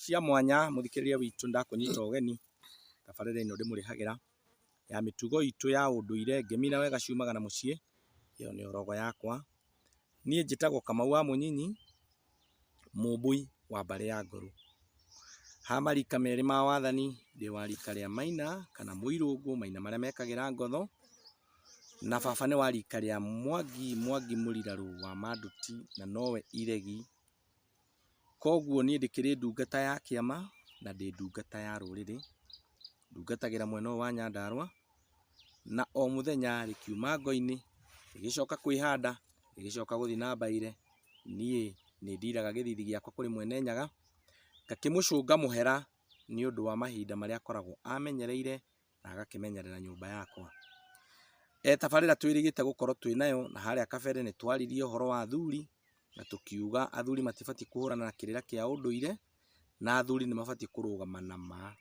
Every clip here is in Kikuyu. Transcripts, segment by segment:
cia mwanya mũthikĩrĩria witũ ndakũnyita ũgeni, tabarĩra ĩno ndĩmũrehagĩra ya mĩtugo itũ ya ũndũire ngemĩra wega ciumaga na mũciĩ, ĩyo nĩyo rogo yakwa. Niĩ njĩtagwo Kamau wa Mũnyinyi, mũmbui wa mbarĩ ya Ngorũ. Ha marika merĩ ma wathani, ndĩ wa rika rĩa Maina kana Mũirũngũ, Maina marĩa mekagĩra ngotho, na baba nĩ wa rika rĩa Mwangi, Mwangi mũrirarũ wa Manduti na nowe iregi. Koguo niĩ ndĩkĩrĩ ndungata ya kĩama na ndĩ ndungata ya rũrĩrĩ, ndungatagĩra mwena ũyũ wa Nyandarũa, na o mũthenya rĩ, kiuma ngo-inĩ, ngĩgĩcoka kwĩhanda, ngĩgĩcoka gũthiĩ na mbaire, niĩ nĩ ndiraga gĩthithi gĩakwa kũrĩ Mwene Nyaga, ngakĩmũcũnga mũhera nĩ ũndũ wa mahinda marĩa akoragwo amenyereire na agakĩmenyerera nyũmba yakwa. He tabarĩra twĩrĩgĩte gũkorwo twĩ nayo, na harĩa kabere nĩ twaririe ũhoro wa athuri, na tũkiuga athuri matibatiĩ kũhũrana na kĩrĩra kĩa ũndũire, na athuri nĩ mabatiĩ kũrũgama na ma.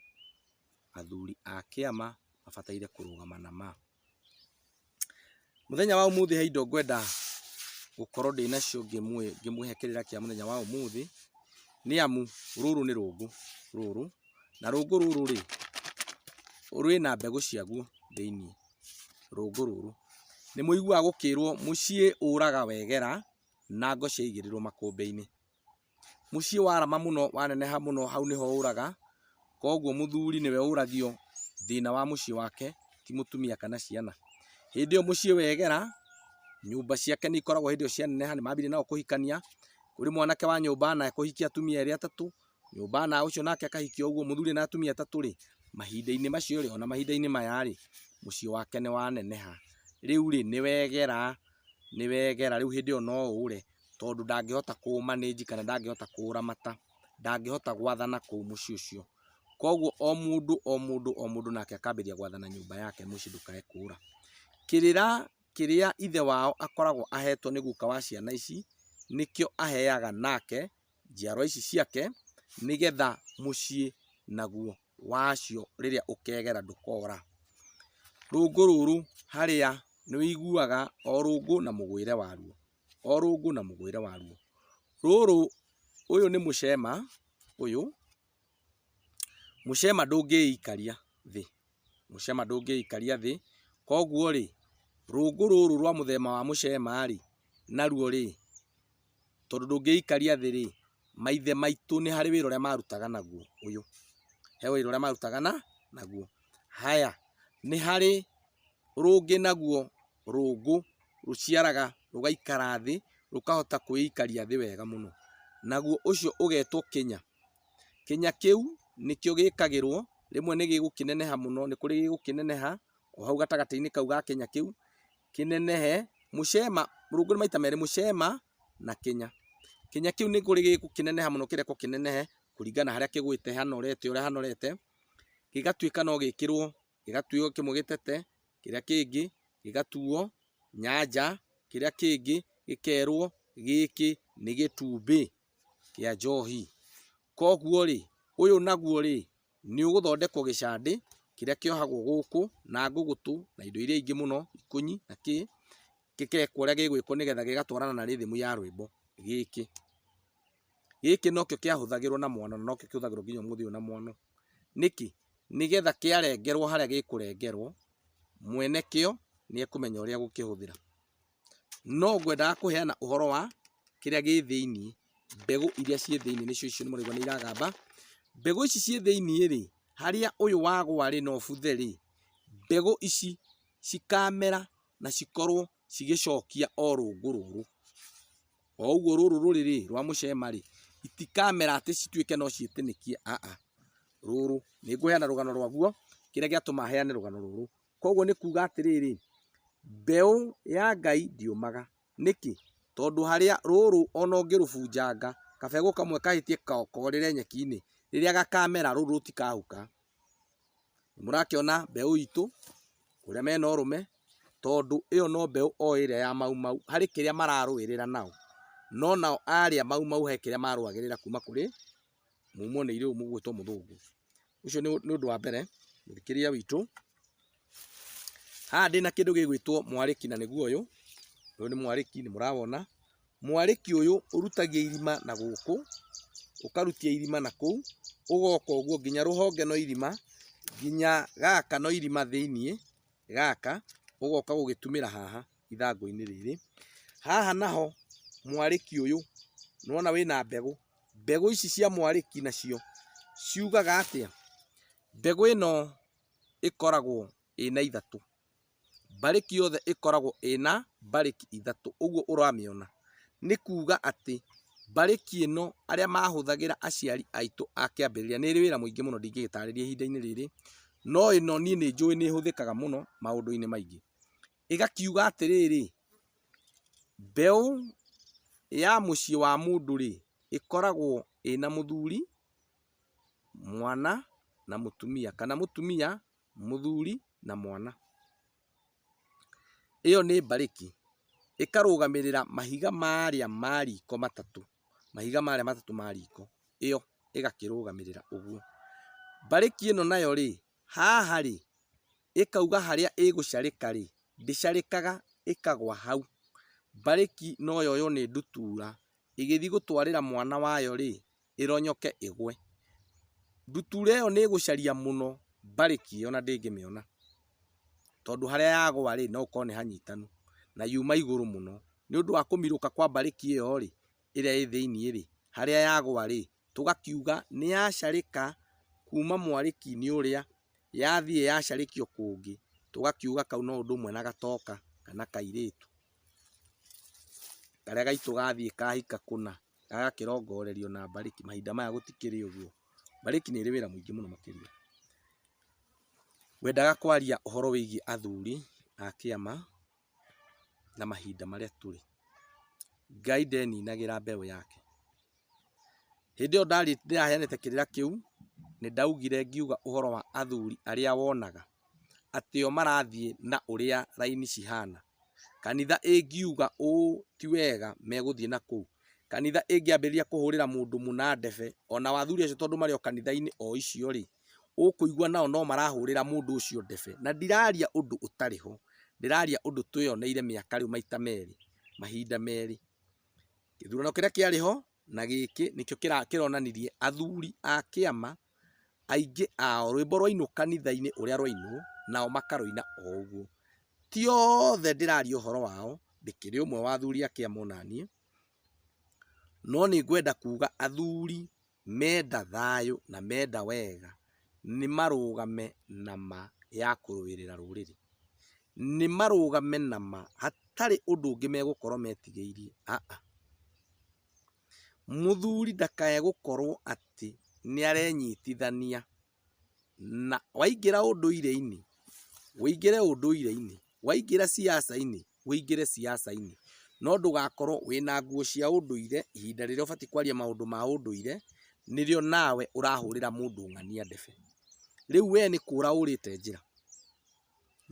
Athuri a kĩama mabataire kũrũgama na ma. Mũthenya wa ũmũthĩ he indo ngwenda gũkorwo ndĩnacio ngĩmũhe kĩrĩra kĩa mũthenya wa ũmũthĩ, nĩ amu rũrũ nĩ rũngũ rũrũ, na rũngũ rũrũ rĩ, rwĩna mbegũ ciaguo thĩiniĩ, rũngũ rũrũ. Nĩ mũiguaga gũkĩrwo mũciĩ ũraga wegera na ngũ ciaigĩrĩrwo makũmbĩ-inĩ. mũciĩ warama mũno waneneha mũno hau nĩho ũraga, koguo mũthuri nĩwe ũragio thĩna wa mũciĩ wake ti mũtumia kana ciana. Hĩndĩ ĩyo mũciĩ wegera, nyũmba ciake nĩ ikoragwo hĩndĩ ĩyo cianeneha nĩ mambire nao kũhikania, kũrĩ mwanake wa nyũmba na ekũhikia atumia erĩ atatũ, nyũmba na ũcio nake akahikia ũguo, mũthuri ena atumia atatũ rĩ, mahinda-inĩ macio rĩ, ona mahinda-inĩ maya rĩ, mũciĩ wake nĩ waneneha. Rĩu rĩ, nĩ wegera, nĩ wegera, rĩu hĩndĩ ĩyo no ũre. tondũ ndangĩhota kũ manage kana ndangĩhota kũramata, ndangĩhota gwathana kũu mũciĩ ũcio. Koguo o mũndũ o mũndũ o mũndũ nake akambĩrĩria gwathana nyũmba yake mũciĩ ndũkae kũra. Kĩrĩra kĩrĩa ithe wao akoragwo ahetwo nĩ guka wa ciana ici, nĩkĩo aheaga nake njiarwa ici ciake, nĩgetha mũciĩ naguo wacio rĩrĩa ũkegera ndũkora. Rũngũ rũrũ harĩa nĩ ũiguaga o rũngũ na mũgwĩre waruo. o rũngũ na mũgũĩre waruo. Rũrũ, ũyũ nĩ mũcema ũyũ, mũcema ndũngĩikaria thĩ, mũcema ndũngĩikaria thĩ, koguo rĩ, rũngũ rũrũ rwa mũthemba wa mũcema rĩ, naruo rĩ, tondũ ndũngĩikaria thĩ rĩ, maithe maitũ nĩ harĩ wĩra ũrĩa marutaga naguo ũyũ, he wĩra ũrĩa marutaga naguo. Haya, nĩ harĩ rũngĩ naguo rũngũ rũciaraga rũgaikara thĩ, rũkahota kwĩikaria thĩ wega mũno. Naguo ũcio ũgetwo kĩnya. Kĩnya kĩu nĩkĩo gĩkagĩrwo, rĩmwe nĩ gĩgũkĩneneha mũno, nĩ kũrĩ gĩgũkĩneneha o hau gatagatĩ-inĩ kau ga kĩnya kĩu, kĩnenehe, mũcema, rũngũ nĩ maita merĩ, mũcema na kĩnya. Kĩnya kĩu nĩ kũrĩ gĩgũkĩneneha mũno kĩrekwo kĩnenehe kũringana harĩa kĩgwĩte, hanorete ũrĩa hanorete, gĩgatuĩka no gĩkĩrwo gĩgatuo kĩmwe gĩtete, kĩrĩa kĩngĩ gĩgatuo nyanja, kĩrĩa kĩngĩ gĩkerwo gĩkĩ nĩ gĩtumbĩ kĩa njohi. Koguo rĩ, ũyũ naguo rĩ, nĩ ũgũthondekwo gĩcandĩ kĩrĩa kĩohagwo gũkũ na ngũgũtũ na indo iria ingĩ mũno, ikũnyi na kĩ, gĩgekwo ũrĩa gĩgwĩkwo nĩgetha gĩgatwarana na rhythm ya rwĩmbo gĩkĩ. Gĩkĩ nokĩo kĩahũthagĩrwo na mwana na nokĩo kĩhũthagĩrwo nginya ũmũthĩ ũyũ na mwana. Nĩkĩ? Nĩgetha kĩarengerwo harĩa gĩkũrengerwo, mwene kĩo nĩekũmenya ũrĩa egũkĩhũthĩra. No ngwendaga kũheana ũhoro wa kĩrĩa gĩ thĩiniĩ, mbegũ iria ciĩ thĩiniĩ nĩcio icio mũraigua nĩiragamba. Mbegũ ici ciĩ thĩiniĩ-rĩ, harĩa ũyũ wagwa-rĩ na ũbuthe-rĩ, mbegũ ici cikamera na cikorwo cigĩcokia o rũngũ rũrũ. o ũguo rũrũ rũrĩ rĩ rwa mũcema rĩ, itikamera atĩ cituĩke no ciĩtĩnĩkie aa, rũrũ, nĩngũheana rũgano rwaguo, kĩrĩa gĩatũma heane rũgano rũrũ, koguo nĩ kuuga atĩrĩrĩ, mbeũ ya Ngai ndĩũmaga, nĩkĩ? tondũ harĩa rũrũ ona ũngĩrũbunjanga, kabegũ kamwe kahĩtie korĩre nyeki-inĩ, rĩrĩa gakamera rũrũ rũtikahuka, Nĩmũrakĩona mbeũ itũ ũrĩa mena ũrũme tondũ ĩyo no mbeũ o ĩrĩa ya Mau Mau harĩ kĩrĩa mararũĩrĩra nao. No nao arĩa Mau Mau he kĩrĩa marũagĩrĩra kuma kũrĩ mũmũneire ũyũ mũgũĩtwo mũthũngũ. Ũcio nĩ ũndũ wa mbere mũthikĩria witũ. Haha ndĩna kĩndũ gĩgwĩtwo mwarĩki na nĩguo ũyũ, ũyũ nĩ mwarĩki nĩ mũrawona. Mwarĩki ũyũ ũrutagia irima na gũkũ, ũkarutia irima na kũu, ũgoka ũguo nginya rũhonge no irima, nginya gaka no irima thĩiniĩ gaka, ũgoka gũgĩtumĩra haha ithangũ-inĩ rĩrĩ. Haha naho mwarĩki ũyũ nĩwona wĩna mbegũ, mbegũ ici cia mwarĩki nacio ciugaga atĩa? Mbegũ ĩno... ĩkoragwo ĩna ithatũ, mbarĩki yothe ĩkoragwo ĩna mbarĩki ithatũ, ũguo ũramĩona, nĩ kuuga atĩ mbarĩki ĩno arĩa mahũthagĩra aciari aitũ a kĩambĩrĩria, nĩ ĩrĩ wĩra mũingĩ mũno ndingĩgĩtarĩria ihinda-inĩ rĩrĩ, no ĩno niĩ nĩ njũĩ nĩ ĩhũthĩkaga mũno maũndũ-inĩ maingĩ. Ĩgakiuga atĩrĩrĩ, mbeũ ya mũciĩ wa mũndũ-rĩ, ĩkoragwo ĩna mũthuri mwana na mũtumia, kana mũtumia, mũthuri na mwana. Ĩyo nĩ mbarĩki, ĩkarũgamĩrĩra mahiga marĩa ma riko matatũ, mahiga marĩa matatũ ma riko, ĩyo ĩgakĩrũgamĩrĩra ũguo. Mbarĩki ĩno nayo rĩ, haha rĩ, ĩkauga harĩa ĩgũcarĩka rĩ, ndĩcarĩkaga ĩkagwa hau. Mbarĩki no yoywo nĩ ndutura, ĩgĩthiĩ gũtwarĩra mwana wayo rĩ, ĩronyoke ĩgwe. Ndutura ĩyo nĩ ĩgũcaria mũno mbarĩki ĩyo na ndĩngĩmĩona. Tondũ harĩa yagwa rĩ, no ũkore nĩ hanyitanu, na yuma igũrũ mũno. Nĩ ũndũ wa kũmirũka kwa mbarĩki ĩyo rĩ, ĩrĩa ĩ thĩiniĩ rĩ, harĩa yagwa rĩ, tũgakiuga nĩ yacarĩka kuuma mwarĩki-inĩ ũrĩa, yathiĩ yacarĩkio kũngĩ, tũgakiuga kau no ũndũ ũmwe na gatoka kana kairĩtu karĩa gaitũ gathiĩ kahika kũna. agakĩrongorerio na mbarĩki, mahinda maya gũtikĩrĩ ũguo, mbarĩki nĩ ĩrĩ wĩra mũingĩ mũno makĩria. Ngwendaga kwaria ũhoro wĩgiĩ athuri a kĩama na mahinda marĩa tũrĩ. Ngai ndeninagĩra mbeũ yake. Hĩndĩ ĩyo ndĩraheanĩte kĩrĩra kĩu, nĩ ndaugire ngiuga ũhoro wa athuri arĩa wonaga atĩ o marathiĩ na ũrĩa raini cihana, Kanitha ĩngiuga ũũ ti wega megũthiĩ na kũu. Kanitha ĩngĩambĩrĩria kũhũrĩra mũndũ mũna ndebe, o nao athuri acio tondũ marĩ o kanitha-inĩ o icio rĩ, ũkũigua nao no marahũrĩra mũndũ ũcio ndebe. Na ndiraria ũndũ ũtarĩ ho, ndĩraria ũndũ twĩyoneire mĩaka rĩu maita merĩ, mahinda merĩ. Gĩthurano kĩrĩa kĩarĩ ho na gĩkĩ nĩkĩo kĩronanirie athuri a kĩama aingĩ ao rwĩmbo rwainwo kanitha-inĩ ũrĩa rwainwo nao makarũina o ũguo. Ti othe ndĩraria ũhoro wao, ndĩkĩrĩ ũmwe wa athuri a kĩama onaniĩ, no nĩ ngwenda kuga athuri menda thayũ na menda wega nĩ marũgame na ma ya kũrũĩrĩra rũrĩrĩ. Nĩ marũgame na ma hatarĩ ũndũ ũngĩ megũkorwo metigĩirie, aa. Mũthuri ndakae gũkorwo atĩ nĩ arenyitithania na, waingĩra ũndũire-inĩ, ũingĩre ũndũire-inĩ, waingĩra ciaca-inĩ, ũingĩre ciaca-inĩ. No ndũgakorwo wĩna nguo cia ũndũire, ihinda rĩrĩa ũbatiĩ kwaria maũndũ ma ũndũire, nĩrĩo nawe ũrahũrĩra mũndũ ũng'ania ndebe. Rĩu we nĩ kũũra ũũrĩte njĩra,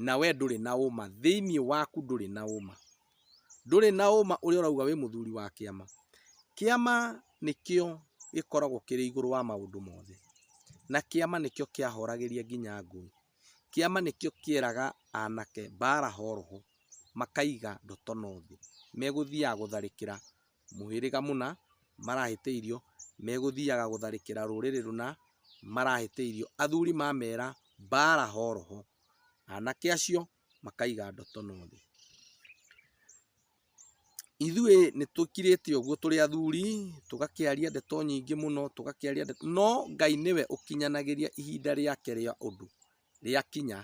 na we ndũrĩ na ũũma, thĩiniĩ waku ndũrĩ na ũũma. ndũrĩ na ũma ũrĩa ũrauga wĩ mũthuri wa kĩama. Kĩama nĩkĩo gĩkoragwo kĩrĩ igũrũ wa maũndũ mothe, na kĩama nĩkĩo kĩahoragĩria nginya ngũĩ. Kĩama nĩkĩo kĩeraga anake mbara horoho, makaiga ndoto no thĩ, megũthiaga gũtharĩkĩra mũhĩrĩga mũna marahĩtĩirio, megũthiaga gũtharĩkĩra rũrĩrĩ rũna marahĩtĩirio. Athuri mamera mbara horoho, anake acio makaiga ndotono thĩ. Ithuĩ nĩ tũkirĩte ũguo tũrĩ athuri, tũgakĩaria ndeto nyingĩ mũno, tũgakĩaria ndeto, no Ngai nĩwe ũkinyanagĩria ihinda rĩake rĩa ũndũ rĩakinya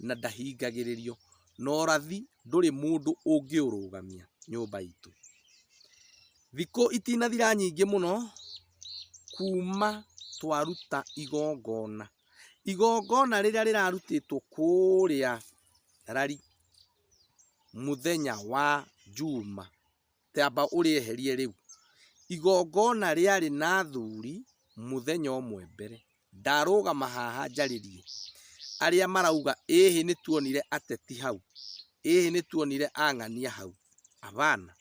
na ndahingagĩrĩrio, na ũrathi ndũrĩ mũndũ ũngĩũrũgamia nyũmba itũ. Thikũ itinathira nyingĩ mũno kuma twaruta igongona. igongona rĩrĩa rĩrarutĩtwo kũrĩa rari mũthenya wa njuma tamba ũrĩeherie rĩu igongona rĩarĩ na athuri mũthenya ũmwe mbere ndarũgama haha njarĩrie arĩa marauga ĩhĩ nĩtuonire ateti hau ĩhĩ nĩtuonire ang'ania hau abana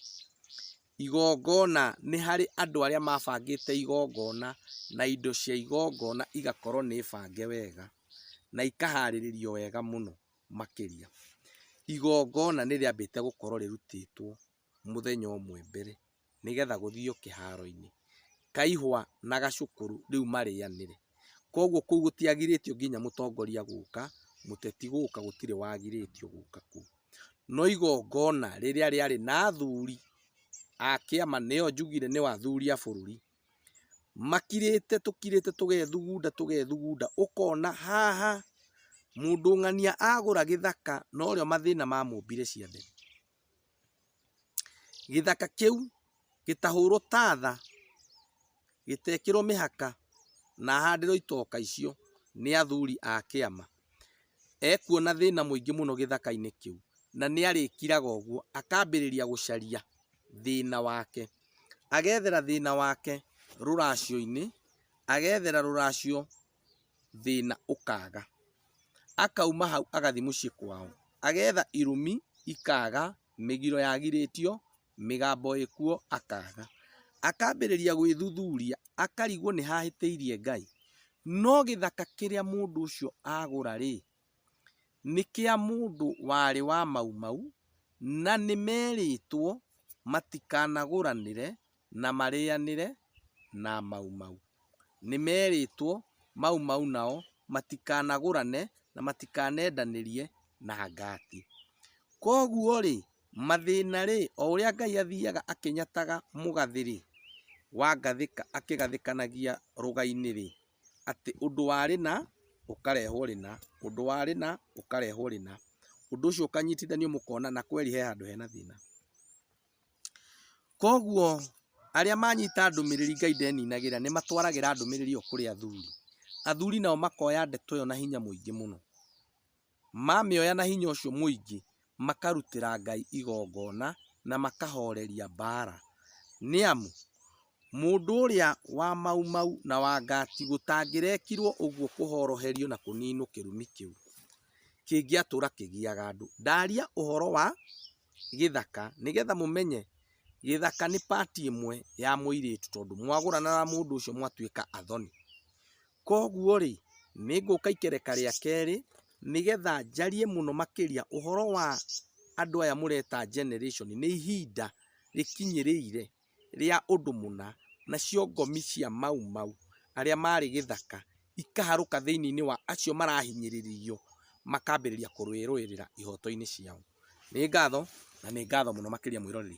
Igongona nĩ harĩ andũ arĩa mabangĩte igongona na indo cia igongona igakorwo nĩ bange wega na ikaharĩrĩrio wega mũno makĩria. Igongona nĩ rĩambĩte gũkorwo rĩrutĩtwo mũthenya ũmwe mbere nĩ getha gũthio kĩharo-inĩ, kaihwa na gacũkũrũ rĩu marĩanĩre. Koguo kũu gũtiagirĩtio nginya mũtongoria gũka, mũteti gũka gũtirĩ wagirĩtio gũka kũu. no igongona rĩrĩa rĩarĩ na athuri a kĩama, nĩyo njugire nĩyo athuri a bũrũri, makirĩte tũkirĩte tũgethugunda tũgethugunda, ũkona haha mũndũ ng'ania agũra gĩthaka norĩo mathĩna mamũmbire ciande. gĩthaka kĩu gĩtahũrwo tatha, gĩtekĩrwo mĩhaka na ahandĩrwo itoka icio nĩ athuri a kĩama. Ekuona thĩna mũingĩ mũno gĩthaka-inĩ kĩu na nĩ arĩkiraga ũguo akambĩrĩria gũcaria thĩna wake. Agethera thĩna wake rũracio-inĩ, agethera rũracio thĩna ũkaga. Akauma hau agathiĩ mũciĩ kwao, agetha irumi ikaga, mĩgiro yagirĩtio, mĩgambo ĩkuo akaga. Akambĩrĩria gwĩthuthuria akarigwo nĩ ha ahĩtĩirie Ngai. No gĩthaka kĩrĩa mũndũ ũcio agũra rĩ, nĩ kĩa mũndũ warĩ wa Mau Mau, na nĩ merĩtwo matikanagũranĩre na marĩanĩre na Mau Mau. Nĩmerĩtwo Mau Mau nao matikanagũrane na matikanendanĩrie na ngati. Koguo-rĩ, mathĩna-rĩ, o ũrĩa Ngai athiaga akĩnyataga mũgathĩ-rĩ, wa ngathĩka akĩgathĩkanagia rũga-inĩ-rĩ, atĩ ũndũ wa rĩna ũkarehwo rĩna, ũndũ wa rĩna ũkarehwo rĩna, ũndũ ũcio ũkanyitithanio mũkona na kweri he handũ hena thĩna. Koguo arĩa manyita ndũmĩrĩri Ngai ndeninagĩra nĩ matwaragĩra ndũmĩrĩri ĩyo kũrĩ athuri. Athuri nao makoya ndeto ĩyo na hinya mũingĩ mũno. Mamĩoya na hinya ũcio mũingĩ, makarutĩra Ngai igongona na makahoreria mbaara. Nĩ amu, mũndũ ũrĩa wa mau mau na wa ngati gũtangĩrekirwo ũguo kũhoroherio na kũninwo kĩrumi kĩu kĩngĩatũra kĩgiaga andũ. Ndaria ũhoro wa gĩthaka nĩgetha mũmenye gĩthaka nĩ part ĩmwe ya mũirĩtu tondũ mwagũrana na mũndũ ũcio mwatuĩka athoni. Koguo rĩ, nĩ ngũka ikereka rĩa kerĩ nĩgetha njarie mũno makĩria ũhoro wa andũ aya mũreta generation nĩ ihinda rĩkinyĩrĩire. rĩa ũndũ mũna, nacio ngomi cia Mau Mau arĩa maarĩ gĩthaka ikaharũka thĩinĩ wa acio marahinyĩrĩrio makambĩrĩria kũrũĩrĩra ihooto-inĩ ciao. Nĩ ngatho na nĩ ngatho mũno makĩria mwĩroreri.